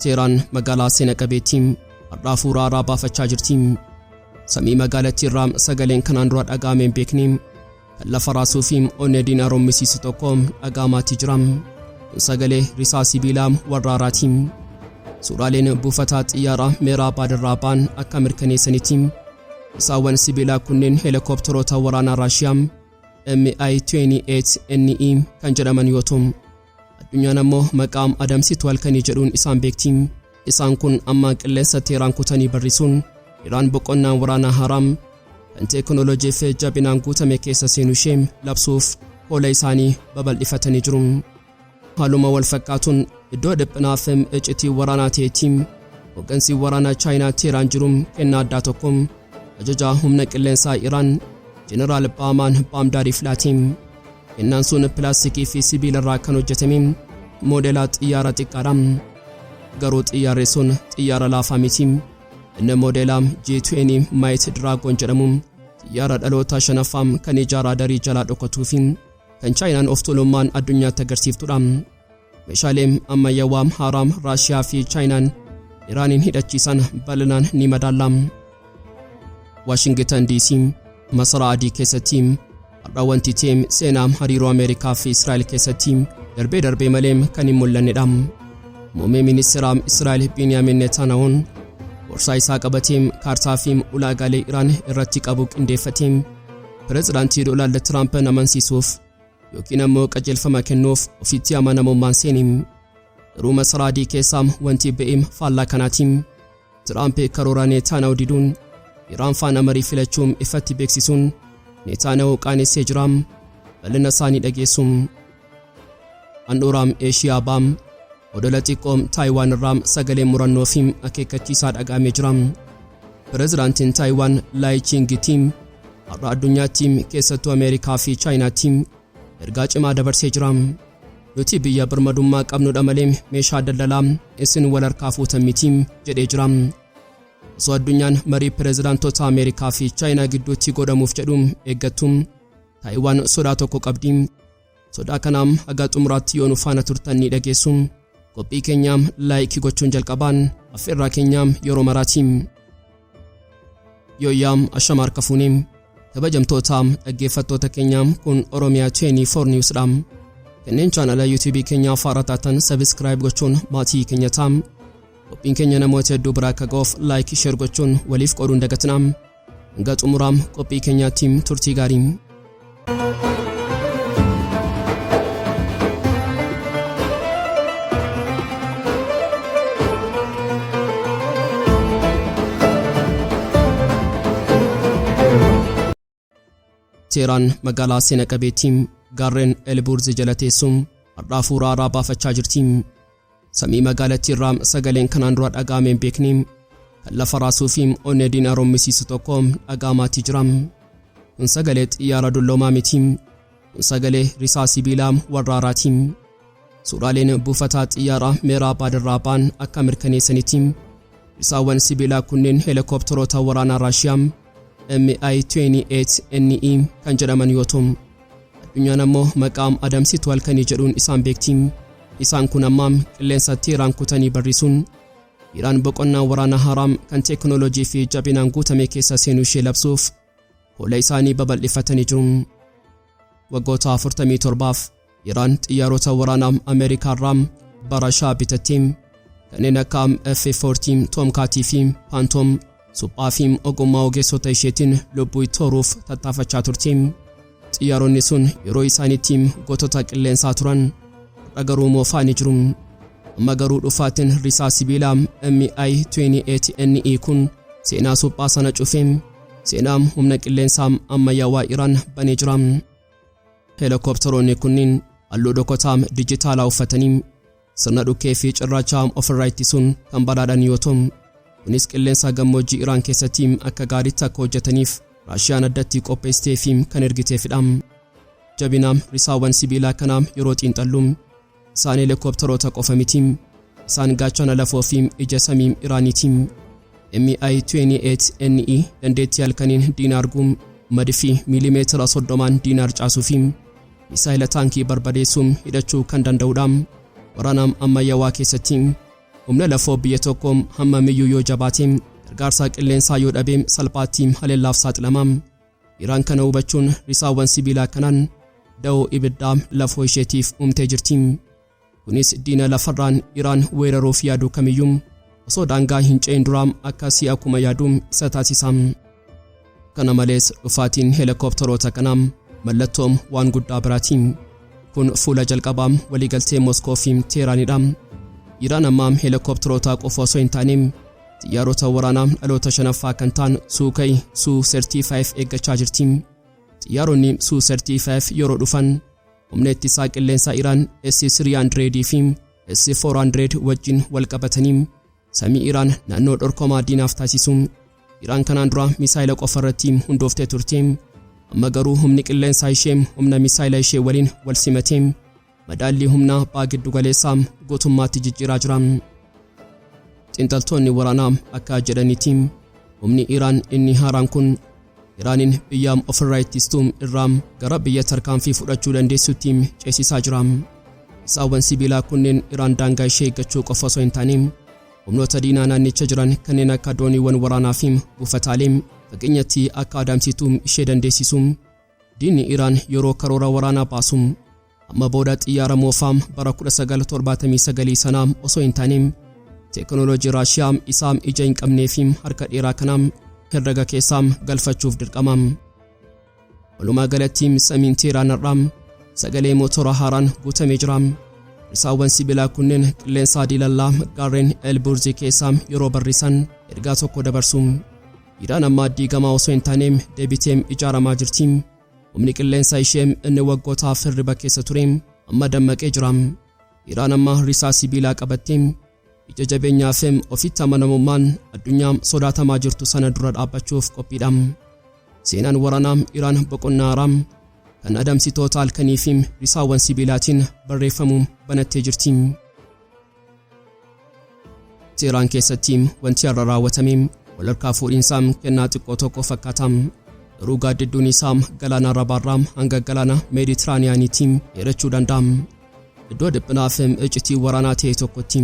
Teeraan magaalaa seena qabeettii har'aa fuuraa irraa baafachaa jirti. Samii magaalattii irraa sagaleen kanaan dura dhaga'amee hin beekne kan lafa raasuu fi onnee diinaa rommisiisu tokko dhaga'amaatti jira. Kun sagalee risaa sibiilaa warraaraati. Suuraaleen buufataa xiyyaaraa meeraa baadirraa ba'an akka mirkaneessanitti risaawwan sibiilaa kunneen heelikooptaroota waraanaa Raashiyaa MI-28NE kan jedhaman yoo ta'u Addunyaan ammoo maqaa adamsitu halkanii jedhuun isaan beekti. Isaan kun ammaa qilleensa Teeraan kutanii barrisuun Iraan boqonnaa waraanaa haaraam kan teekinooloojii fi jabinaan guutame keessa seenu ishee labsuuf hoola isaanii babal'ifatanii jiru. Haaluma wal fakkaatuun iddoo dhiphinaa fi icitii waraanaa ta'etti hoggansi waraanaa Chaayinaa Teeraan jiru kennaa addaa tokko Ajajaa humna qilleensaa Iraan Jeneraal Baamaan Baamdaar Iflaatiin kennaan sun pilaastikii fi sibiila irraa kan hojjetame moodeelaa xiyyaara xiqqaadha. Garuu xiyyaarri sun xiyyaara laafaa miti. Inni moodeelaa G20 Might Dragon jedhamu xiyyaara dhaloota shanaffaa kan ijaaraa darii jalaa dhokatuu fi kan Chaayinaan of tuulummaan addunyaatti agarsiiftudha. Meeshaalee ammayyaawaa haaraa Raashiyaa fi Chaayinaan Iraaniin hidhachiisan bal'inaan ni madaalla. Waashingitan DC masaraa adii keessatti har'a wanti ta'e seenaa hariiroo Ameerikaa fi Israa'el keessatti darbee darbee malee kan hin mul'annedha. Muummee ministeeraa Israa'el Biiniyaamin Netaanahoon borsaa isaa qabatee kaartaa fi ulaagaalee Iraan irratti qabu qindeeffatee pirezidaantii Doonaald Tiraampin amansiisuuf yookiin ammoo qajeelfama kennuuf ofitti amanamummaan seeni. Garuu masaraa adii keessaa wanti ba'eem faallaa kanaatiin Tiraamp karoora Neetaanaa'u diduun Iraan faana marii filachuun ifatti beeksisuun Neetaanaa'u qaanessee jira. Bal'ina isaanii dhageessu. Handhuuraam Eeshiyaa Baam Odola xiqqoo Taayiwaan irraa sagalee murannoo fi akeekkachiisaa dhaga'amee jira. Pirezidaantiin Taayiwaan Laayi Chiingi Tiim har'a addunyaatti keessattuu Ameerikaa fi Chaayinaatti ergaa cimaa dabarsee jira. Nuti biyya birmadummaa qabnudha malee meeshaa daldalaa isin wal harkaa fuutan miti jedhee jira. Osoo addunyaan marii pirezidaantota Ameerikaa fi Chaayinaa gidduutti godhamuuf jedhu eeggattu Taayiwaan sodaa tokko qabdi. Sodaa kanaam haga xumuraatti yoo nu faana turtan ni dhageessu. Qophii keenyaam laayikii gochuun jalqabaan affeerraa keenyaam yeroo maraatiim. Yooyyaam ashama harka fuunee kabajamtootaam dhaggeeffattoota keenyaam kun Oromiyaa 24 News dhaam. Kanneen chaanala YouTube keenya afaara taatan sabiskiraayib gochuun maatii keenya taam. Qophiin keenya namoota hedduu biraa akka ga'uuf laayikii sheer gochuun waliif qooduun dagatinaam. Hanga xumuraa qophii keenyaatti turtii gaarii. Teeraan magaalaa seena qabeettii gaarreen Elbuurzi jala teessuun har'aa fuuraa irraa baafachaa jirti. Samii magaalattiirraa sagaleen kanaan dura dhaga'amee hin beekne kan lafa raasuu fi onnee diinaa rommisiisu tokko dhaga'amaatii jira. Kun sagalee xiyyaara dulloomaa miti. Kun sagalee risaa sibiilaa warraaraati. Suuraaleen buufataa xiyyaaraa Meeraa Baadirraa ba'an akka mirkaneessanitti risaawwan sibiilaa kunneen heelikooptaroota waraanaa Raashiyaa MI-28NE kan jedhaman yoo ta'u, Addunyaan ammoo maqaa adamsitu halkanii jedhuun isaan beekti. Isaan kun amma qilleensatti Iraan kutanii barrisuun Iraan boqonnaa waraana haaraa kan teekinooloojii fi jabinaan guutame keessa seenuu ishee labsuuf hoola isaanii babal'ifatanii jiru. Waggoota 47f Iraan xiyyaarota waraanaa Ameerikaa irraa bara shaa bitatte kanneen akka F-40 Tomcat fi Phantom Suphaa fi ogummaa ogeessota isheetiin lubbuu itti horuuf tattaafachaa turte. Xiyyaaronni sun yeroo isaaniitti gootota qilleensaa turan. Har'a garuu moofaa ni jiru. Amma garuu dhufaatiin risaa sibiilaa MI-28NE kun seenaa suphaa sana cufe. Seenaa humna qilleensaa ammayyaawaa Iraan banee jira. Heelikooptaroonni kunniin halluu dhokotaa dijitaalaa uffatanii Sirna dhukkee fi cirracha haam ofirraa ittisuun kan badhaadhan yoo ta'u, kunis qilleensaa gammoojjii Iraan keessatti akka gaariitti akka hojjetaniif Raashiyaan addatti qopheessitee fi kan ergiteefidha. Jabina risaawwan sibiilaa kanaa yeroo xiinxallu isaan heelikooptaroota qofa miti. Isaan gaachana lafoo fi ija samii Iraaniiti. MI-28NE dandeettii halkaniin diina arguu, madfi miilimeetira 30n diina harcaasuu fi Misaayila taankii barbadeessu hidhachuu kan danda'udha. Waraana ammayyawaa keessatti humna lafoo biyya tokko hammamiyyuu yoo jabaate gargaarsaa qilleensaa yoo dhabe salphaatti haleellaaf saaxilama. Iraan kana hubachuun risaawwan sibiilaa kanaan da'oo ibiddaa lafoo isheetiif uumtee jirti. Kunis diina lafarraan Iraan weeraruuf yaadu kamiyyuu osoo daangaa hin ce'in duraa akka si'a kuma yaadu isa taasisa. Kana malees dhufaatiin heelikooptaroota kanaa mallattoo waan guddaa biraati. Kun fuula jalqabaa waliigaltee Moskoo fi Teeraanidha. Iraan ammaa heelikooptarootaa qofa osoo hin taane xiyyaarota waraanaa dhaloota shanaffaa kan ta'an Suukai Suu 35 eeggachaa jirti. Xiyyaaronni Suu 35 yeroo dhufan Humna ittisaa qilleensaa Iraan S-300 fi S-400 wajjin wal qabatanii samii Iraan naannoo dhorkomaa diinaaf taasisu. Iraan kanaan dura misaayila qofa irratti hundooftee turte. Amma garuu humni qilleensaa ishee humna misaayila ishee waliin wal simatee madaallii humnaa baa giddu galeessaa guutummaatti jijjiiraa jira. Xinxaltoonni waraanaa akka jedhanitti humni Iraan inni haaraan kun Iraaniin biyya ofirraa ittistu irraa gara biyya tarkaanfii fudhachuu dandeessutti ceesisaa jira. Isaawwan sibiilaa kunneen Iraan daangaa ishee eeggachuu qofa osoo hin taane humnoota diinaa naannicha jiran kanneen akka dooniiwwan waraanaa fi buufataalee fageenyatti akka adamsitu ishee dandeessisu. Diinni Iraan yeroo karoora waraanaa baasu Amma booda xiyyaara moofaa bara 1979 sanaa osoo hin taane teekinooloojii Raashiyaa isaa ija hin qabnee fi harka dheeraa kana herrega keessaa galfachuuf dirqama. Walumaa galatti samiin Teeraan har'aa sagalee mootora haaraan guutamee jira. Risaawwan sibiilaa kunneen qilleensaa diilallaa gaarreen Elburzii keessaa yeroo barrisan ergaa tokko dabarsu. Iraan ammaa diigamaa osoo hin taaneem deebiteem ijaaramaa jirti. Humni qilleensa ishee inni waggootaaf hirriba keessa ture amma dammaqee jira. Iraan amma risaa sibiilaa qabattee ija jabeenyaa fi ofitti amanamummaan addunyaa sodaatamaa jirtu sana dura dhaabbachuuf qophiidha. Seenaan waraanaa Iraan boqonnaa haaraa kan adamsitoota halkanii fi risaawwan sibiilaatiin barreeffamu banattee jirti. Seeraan keessatti wanti har'a raawwatame walharkaa fuudhiinsaa kennaa xiqqoo tokko fakkaata. Garuu gaaddidduun isaa galaana Arabaarraa hanga galaana Meeditiraaniyaaniitti dheerachuu danda'a. Iddoo dhiphinaa fi iccitii waraanaa ta'e tokkotti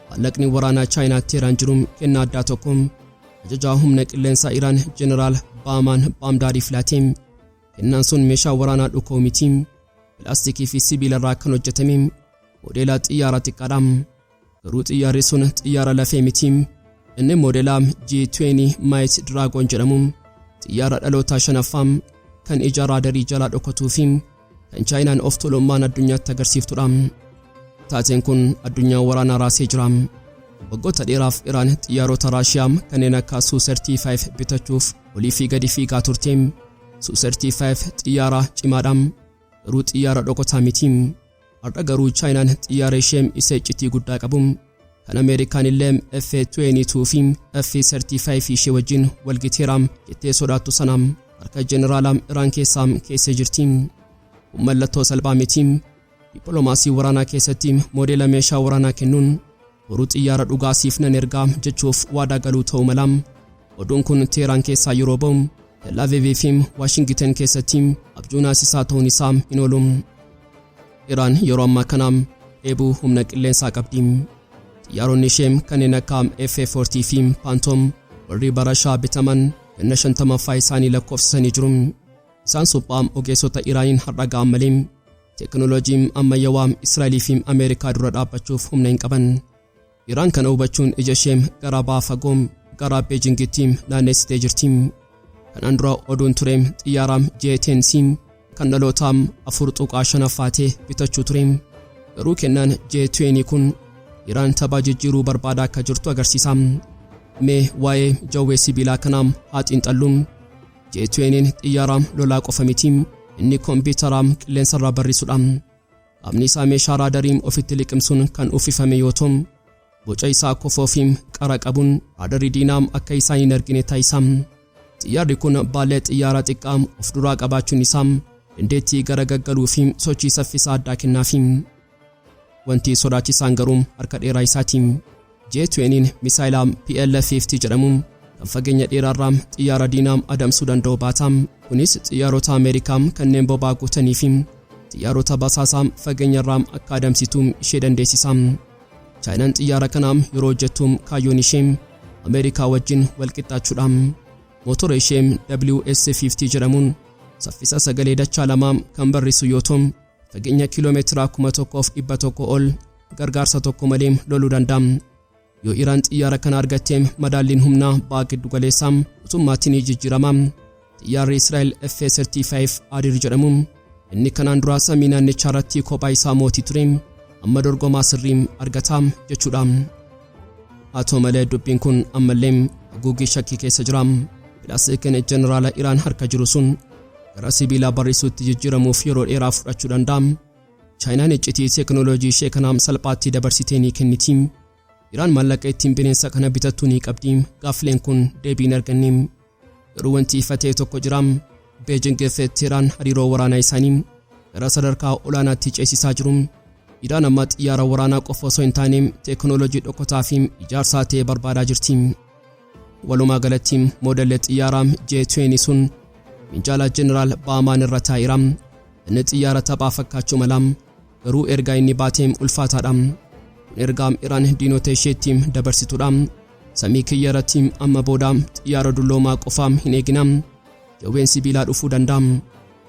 maallaqni waraanaa Chaayinaatti Iraan jiru kennaa addaa tokko ajajaa humna qilleensaa Iraan Jeneraal Baamaan Baamdaariif laate. Kennaan sun meeshaa waraanaa dhukoo miti. Pilaastikii fi sibiilarraa kan hojjetame Moodeela xiyyaara xiqqaadha. Garuu xiyyaarri sun xiyyaara lafee miti. Inni moodeela G20 Might Dragon jedhamu xiyyaara dhalootaa shanaffaa kan ija raadarii jalaa dhokatuu fi kan Chaayinaan of tuulummaan addunyaatti agarsiiftudha. Taateen kun addunyaa waraanaa raasee jira. Waggoota dheeraaf Iraan xiyyaarota Raashiyaa kanneen akka Su-35 bitachuuf olii fi gadi fiigaa turte. Su-35 xiyyaara cimaadha. Garuu xiyyaara dhokotaa miti. Har'a garuu Chaayinaan xiyyaara ishee isa iccitii guddaa qabu kan Ameerikaan illee F-22 fi F-35 ishee wajjin walgiteera jettee sodaattu sana harka jeneraala Iraan keessaa keessee jirti. Kun mallattoo salphaa miti. Dippiloomaasii waraanaa keessatti moodeela meeshaa waraanaa kennuun Boru xiyyaara dhugaa siif nan erga jechuuf waadaa galuu ta'uu mala. Oduun kun Teeraan keessaa yeroo ba'u, Tel Aviv fi Waashingiten keessatti abjuu naasisaa ta'uun isaa hin oolu. Iraan yeroo ammaa kana dheebuu humna qilleensaa qabdi. Xiyyaaronni ishee kanneen akka F-40 fi Phantom warri bara Shaa bitaman ganna 50ffaa isaanii lakkoofsisanii jiru. Isaan suphaa ogeessota Iraaniin har'a ga'an malee Teknolojii ammayyawaa Israa'elii fi Ameerikaa dura dhaabbachuuf humna hin qaban. Iraan kana hubachuun ija ishee garaa baha fagoo garaa Beejingitti naannessitee jirti. Kanaan dura oduun ture xiyyaara JTNC kan dhalootaa 4.5 affaatee bitachuu ture. Garuu kennaan JTN kun Iraan taphaa jijjiiruu barbaada akka jirtu agarsiisa. Mee waa'ee jawwee sibiilaa kanaa haa xiinxalluun. J-20n xiyyaara lolaa qofa miti, inni kompiitara qilleensarraa barrisudha. Qaamni isaa meeshaa raadarii ofitti liqimsuun kan uffifame yoo ta'u, boca isaa kofoo fi qara qabuun raadarii diinaa akka isaan hin argine taasisa. Xiyyaarri kun baallee xiyyaaraa xiqqaa of duraa qabaachuun isaa dandeettii garagaggaluu fi sochii saffisaa addaa kennaafi. Wanti sodaachisaan garuu harka dheeraa isaati. J-20n misaayila PL-50 jedhamu kan fageenya dheeraarraa xiyyaara diinaa adamsuu danda'u baata. Kunis xiyyaarota Ameerikaa kanneen boba'aa guutanii fi xiyyaarota basaasaa fageenyarraa akka adamsitu ishee dandeessisa. Chaayinaan xiyyaara kana yeroo hojjettu kaayyoon ishee Ameerikaa wajjin walqixxaachuudha. Mootora ishee WS-50 jedhamuun saffisa sagalee dachaa lamaa kan barrisu yoo ta'u, Fageenya kiiloomeetiraa 1,100 ol gargaarsa tokko malee loluu danda'a. Yoo Iraan xiyyaara kana argatte madaalliin humnaa ba'a giddu galeessaa gutummaatti ni jijjiirama. Xiyyaarri Israa'el F-35 Adir jedhamu inni kanaan duraa samii naannichaa irratti kophaa isaa mootii ture amma dorgomaa sirrii argata jechuudha. Haa ta'u malee dubbiin kun ammallee haguuggii shakkii keessa jira. Pilaastikiin jeneraala Iraan harka jiru sun gara sibiilaa barrisuutti jijjiiramuuf yeroo dheeraa fudhachuu danda'a. Chaayinaan iccitii teekinooloojii ishee kana salphaatti dabarsitee ni kenniti. Iraan maallaqa ittiin bineensa kana bitattu ni qabdi. Gaaffileen kun deebii hin arganne. Garuu wanti ifa ta'e tokko jira. Beejing fi Teeraan hariiroo waraanaa isaanii gara sadarkaa olaanaatti ceesisaa jiru. Iraan amma xiyyaara waraanaa qofa osoo hin taane teekinooloojii dhokotaa fi ijaarsaa ta'e barbaadaa jirti. Walumaa galatti moodelli xiyyaaraa J-20 sun minjaala Jeneraal Baamaan irra taa'eera. Inni xiyyaara taphaa fakkaachuu mala. Garuu ergaa inni baate ulfaataadha. Kun ergaa Iraan diinota isheetti dabarsitudha. Samii kiyya irratti amma booda xiyyaara dulloomaa qofaa hin eegina. Jawween sibiilaa dhufuu danda'a.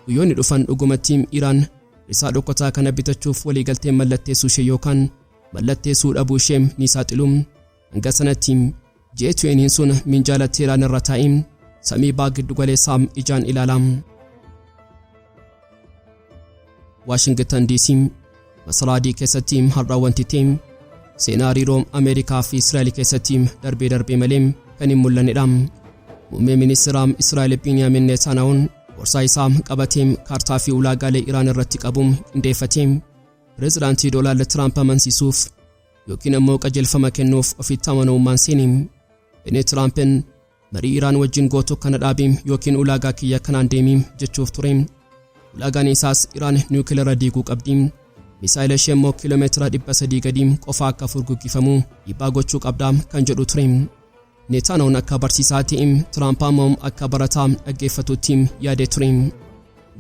Guyyoonni dhufan dhugumatti Iraan risaa dhokataa kana bitachuuf waliigaltee mallatteessuu ishee yookaan mallatteessuu dhabuu ishee ni saaxilu. Hanga sanatti J20n sun minjaala Teelaan irra taa'ee samii baa giddu galeessaa ijaan ilaala. Waashingtan DC masaraa adii keessatti har'a wanti ta'e seenaa hariiroo Ameerikaa fi Israa'el keessatti darbee darbee malee kan hin mul'annedha. Muummee ministeeraa Israa'el Biiniyaamin Neetaanaa'uun gorsaa isaa qabatee kaartaa fi ulaagaalee Iraan irratti qabu qindeeffatee pireezidaantii Doonaald Tiraamp amansiisuuf yookiin ammoo qajeelfama kennuuf ofitti amanamummaan seeni. Inni Tiraampiin marii Iraan wajjin gootu kana dhaabi yookiin ulaagaa kiyya kanaan deemi jechuuf ture. Ulaagaan isaas Iraan niwukilara diiguu qabdi. Misaayila ishee immoo kiiloomeetira 300 gadi qofa akka furguggifamu dhiibbaa gochuu qabda kan jedhu ture. Neetaanoon akka barsiisaati, Tiraamp ammoo akka barataa dhaggeeffatutti yaadee ture.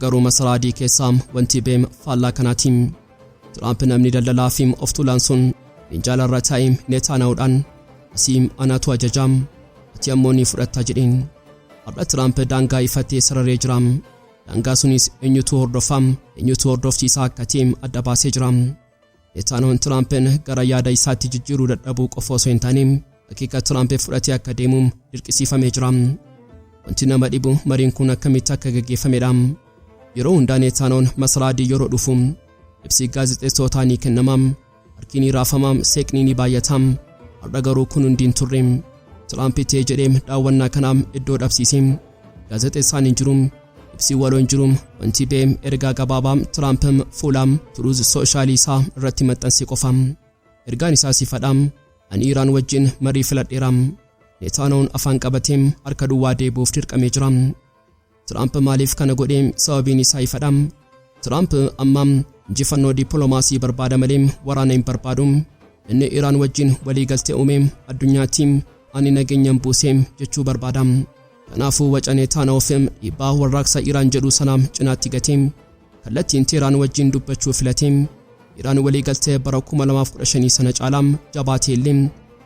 Garuu masaraa adii keessaa wanti beem faallaa kanaati. Tiraamp namni daldalaa fi of tuulaan sun minjaala irra taa'ee Neetaanoodhaan asii anaatu ajajaa ati ammoo ni fudhatta jedheen. Har'a Tiraamp daangaa ifattee sararee jira. Daangaa sunis eenyutu hordofaa eenyutu hordofsiisaa akka ta'e adda baasee jira. Itaanoon Tiraampiin gara yaada isaatti jijjiiruu dadhabuu qofa osoo hin taane akeeka Tiraampiif fudhatee akka deemu dirqisiifamee jira. Wanti nama dhibu mariin kun akkamitti akka gaggeeffamedha. Yeroo hundaa Neetaanoon masaraa adii yeroo dhufu ibsi gaazexeessootaa ni kennama. Harki ni raafama, seeqni ni baay'ata. Har'a garuu kun hundi hin turre. Tiraampi ta'ee jedhee daawwannaa kanaaf iddoo dhabsiise. Gaazexeessaan hin jiru. Si waloon jiru on TBA ergaa gabaabaa Tiraamp fuula Turuuz Sooshaalii isaa irratti maxxanse qofa. Ergaan isaa sifadha. Ani Iraan wajjin marii filadheera. Netaanahuun afaan qabatee harka duwwaa deebi'uuf dirqamee jira. Tiraamp maaliif kana godhe sababiin isaa ifadha. Tiraamp amma injifannoo dippiloomaasii barbaada malee waraana hin barbaadu. Inni Iraan wajjin waliigaltee uume addunyaatti ani nageenyan buuse jechuu barbaada. Kanaafuu Wacanee Taana Ofm dhiibbaa warraaqsa Iraan jedhu sanaa cinaatti gatee kallattiin Teeraan wajjin dubbachuu filate. Iraan waliigaltee bara 2015 sana caalaa jabaatee illee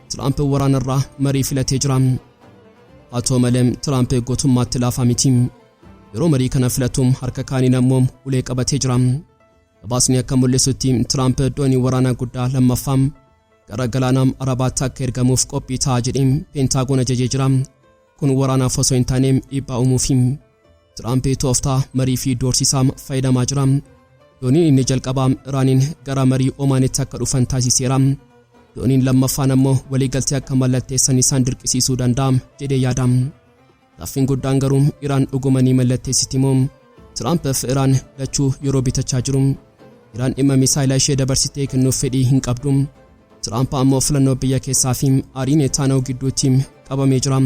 Tiraamp waraanarraa marii filatee jira. Haa ta'u malee Tiraamp gootummaatti laafaa miti. Yeroo marii kana filatu harka kaaniin ammoo ulee qabatee jira. Gabaasni akka mul'isutti Tiraamp doonii waraanaa guddaa lammaffaa gara galaana Arabaatti akka ergamuuf qophii ta'a jedhee Peentaagoon ajajee jira. Kun waraanaaf osoo hin taane dhiibbaa uumuufi. Tiraamp tooftaa marii fi doorsisaa fayyadamaa jira. Dooniin inni jalqabaa Iraaniin gara marii Omaanitti akka dhufan taasiseera. Dooniin lammaffaan ammoo waliigaltee akka mallatteessan isaan dirqisiisuu danda'a jedhee yaada. Gaaffin guddaan garuu Iraan dhuguma ni mallatteessiti moo? Tiraamp fi Iraan lachuu yeroo bitachaa jiru. Iraan dhimma misaayila ishee dabarsitee kennuuf fedhii hin qabdu. Tiraamp ammoo filannoo biyya keessaa fi aarii Neetaanaahu gidduutti qabamee jira.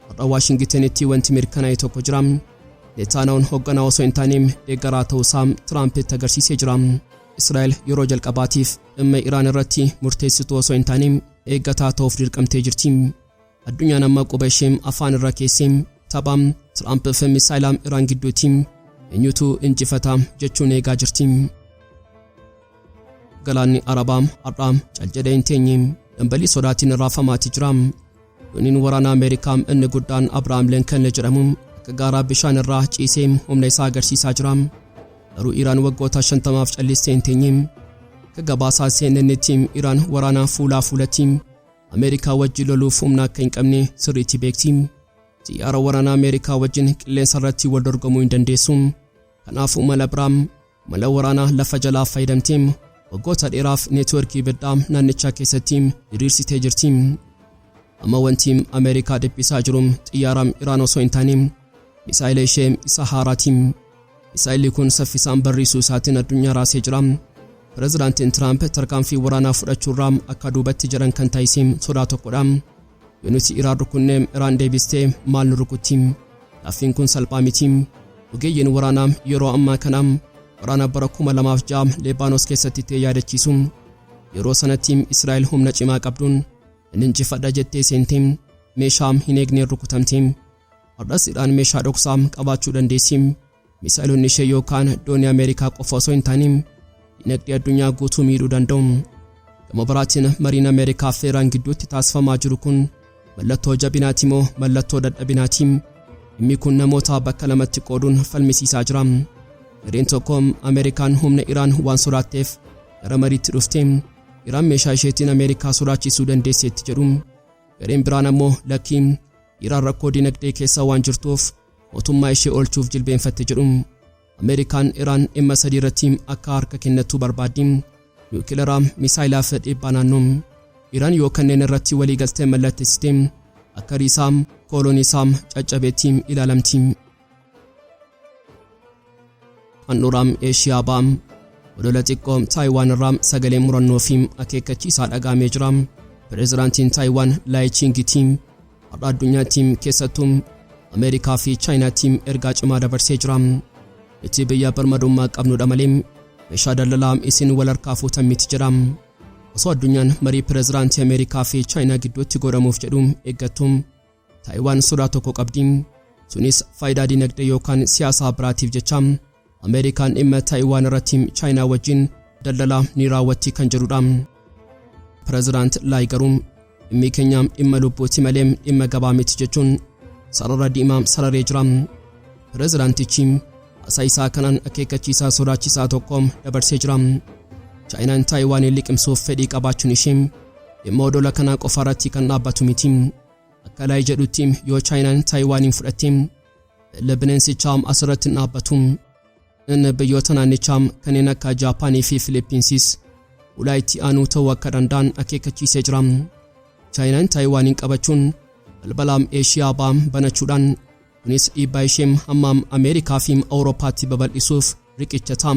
Har'a Waashingitanitti wanti mirkanaa'e tokko jira. Neetaanaahun hoogganaa osoo hin taane deeggaraa ta'uusaa Tiraampitti agarsiisee jira. Israa'el yeroo jalqabaatiif dhimma Iraan irratti murteessituu osoo hin taane eeggataa ta'uuf dirqamtee jirti. Addunyaan amma quba ishee afaan irra keessee tapha Tiraamp fi misaayila Iraan gidduuti eenyutu injifata jechuun eegaa jirti. Galaanni Arabaa har'aa cal jedhee hin teenye dambalii sodaatiin raafamaati jira. Dooniin waraana Ameerikaa inni guddaan Abrahaam Lincoln jedhamu akka gaaraa bishaan irraa ciisee humna isaa agarsiisaa jira. Garuu Iraan waggoota 50f callistee hin teenye. Akka gabaasaa CNNtti Iraan waraana fuulaa fuulatiin Ameerikaa wajjin loluuf humna akka hin qabne sirriitti beekti. Xiyyaara waraanaa Ameerikaa wajjin qilleensa irratti wal dorgomuu hin dandeessu. Kanaafuu mala biraa, mala waraanaa lafa jalaa fayyadamtee waggoota dheeraaf neetwoorkii ibiddaa naannichaa keessatti diriirsitee jirti. Amma wanti Ameerikaa dhiphisaa jiru xiyyaara Iraan osoo hin taane misaa'ela ishee isa haaraati. Misaa'elli kun saffisaan barriisuu isaatiin addunyaa raasee jira. Pirezidaantiin Tiraamp tarkaanfii waraanaa fudhachuurraa akka duubatti jedhan kan taasise sodaa tokkodha. Yoo nuti Iraan rukunne Iraan deebistee maal nu rukutti? Gaaffiin kun salphaa miti. Ogeeyyiin waraanaa yeroo ammaa kana waraana bara 2006 Leebaanos keessatti ta'e yaadachiisu. Yeroo sanatti Israa'el humna cimaa qabduun nan injifadha jettee seente meeshaa hin eegneen rukutamte. Hardhas Iraan meeshaa dhoksaa qabaachuu dandeessi. Misaa'eloonni ishee yookaan doonii Ameerikaa qofa osoo hin taane dinagdee addunyaa guutuu miidhuu danda'u. Gama biraatiin mariin Ameerikaa fi Iraan gidduutti taasifamaa jiru kun mallattoo jabinaati moo mallattoo dadhabinaati? Dhimmi kun namoota bakka lamatti qooduun falmisiisaa jira. Gareen tokko Ameerikaan humna Iraan waan sodaatteef gara mariitti dhufte. Iraan meeshaa isheetiin Ameerikaa sodaachisuu dandeesseetti jedhu. Gareen biraan ammoo lakkii Iraan rakkoo dinagdee keessa waan jirtuuf mootummaa ishee oolchuuf jilbeenfatte jedhu. Ameerikaan Iraan dhimma sadii irratti akka harka kennattu barbaaddi. Niwukilaraa, misaayilaa fi dhiibbaa naannoo. Iraan yoo kanneen irratti walii galtee mallattessite akka riisaa, kooloonii isaa caccabeetti ilaalamti. handhuraa eeshiyaa ba'aa odola xiqqoo taayiwaan irraa sagalee murannoo fi akeekkachiisaa dhagaamee jira pireezidaantiin taayiwaan laayichiingitiin har'a addunyaattiin keessattuu ameerikaa fi chaayinaattiin ergaa cimaa dabarsee jira itti biyya birmadummaa qabnudha malee meeshaa daldalaa isin wal harkaa fuutan miti jedha osoo addunyaan marii pireezidaantii ameerikaa fi chaayinaa gidduutti godhamuuf jedhu eeggattu Taayiwaan sodaa tokko qabdi. Sunis faayidaa dinagdee yookaan siyaasaa biraatiif jecha Ameerikaan dhimma Taayiwaan irratti Chaayinaa wajjin daldalaa ni raawwatti kan jedhudha. Pireezidaant Laay garuu dhimmi keenya dhimma lubbuuti malee dhimma gabaa miti jechuun sarara diimaa sararee jira. Pireezidaantichi haasaa isaa kanaan akeekkachiisaa sodaachisaa tokko dabarsee jira. Chaayinaan Taayiwaaniin liqimsuuf fedhii qabaachuun ishee dhimma odola kanaa qofa irratti kan dhaabbatu miti. Akka Laay jedhutti yoo Chaayinaan Taayiwaaniin fudhatte galli bineensichaa asirratti hin dhaabbatu. Inni biyyoota naannichaa kanneen akka Jaapaanii fi Filiippiinsiis ulaa itti aanuu ta'uu akka danda'an akeekkachiisee jira. Chaayinaan Taayiwaaniin qabachuun balbalaam Eeshiyaa ba'aa banachuudhaan Kunis dhiibbaa ishee hamma Ameerikaa fi Awurooppaatti babal'isuuf riqicha ta'a.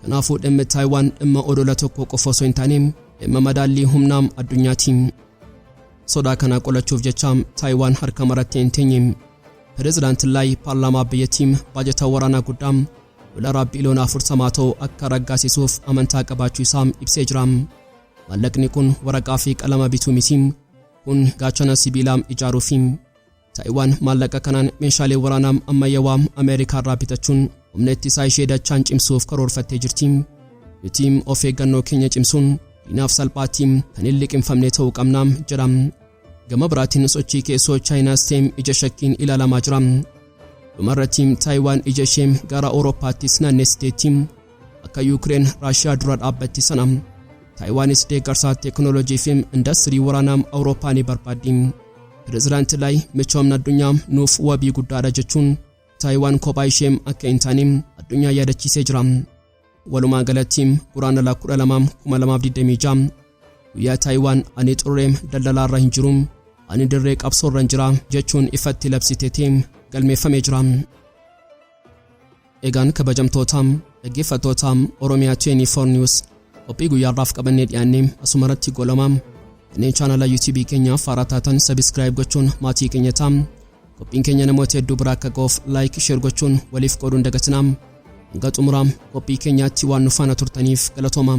Kanaafuu dhimmi Taayiwaan dhimma odola tokko qofa osoo hin taane dhimma madaallii humnaa addunyaati. Sodaa kana qolachuuf jecha Taayiwaan harka marattee hin teenye. Pireezidaantiin Laay paarlaamaa biyyattii baajata waraanaa guddaa doolaraa biiliyoona 40 ta'u akka raggaasisuuf amantaa qabaachuu isaa ibsee jira. Maallaqni kun waraqaa fi qalama bituu miti. Kun gaachana sibiilaa ijaaruu fi Taayiwaan maallaqa kanaan meeshaalee waraanaa ammayyawaa Ameerikaa irraa bitachuun humna ittisaa ishee dachaan cimsuuf karoorfattee jirti. Nuti of eeggannoo keenya cimsuun diinaaf salphaatti kan hin liqimfamne ta'uu qabna jedha. Gama biraatiin sochii keessoo Chaayinaas ta'e ija shakkiin ilaalamaa jira. Dhumarratti Taayiwaan ija ishee gara Awurooppaattis naannessiteetti. Akka Yuukireen Raashiyaa dura dhaabbatti sana Taayiwaanis deeggarsa teeknooloojii fi indastirii waraanaa Awurooppaa ni barbaaddi. Pireezidaanti Laay michoomni addunyaa nuuf wabii guddaadha jechuun Taayiwaan kophaa ishee akka hin taane addunyaa yaadachiisee jira. Walumaa galatti Guraandhala 12/2026 guyyaa Taayiwaan ani xurree daldalaarra hin jiru ani dirree qabsoorran jira jechuun ifatti labsiteetiin galmeeffamee jira. Egaan kabajamtoota dhaggeeffattoota Oromiyaa 24 News qophii guyyaarraaf qabannee dhiyaannee asumarratti goolama. Kanneen chaanala YouTube keenyaaf haaraa taatan sabiskiraayib gochuun maatii keenya ta'a. Qophiin keenya namoota hedduu biraa akka ga'uuf laayik sheer gochuun waliif qooduun dagatinaa. Hanga xumuraa qophii keenyaatti waan nu faana turtaniif galatoomaa.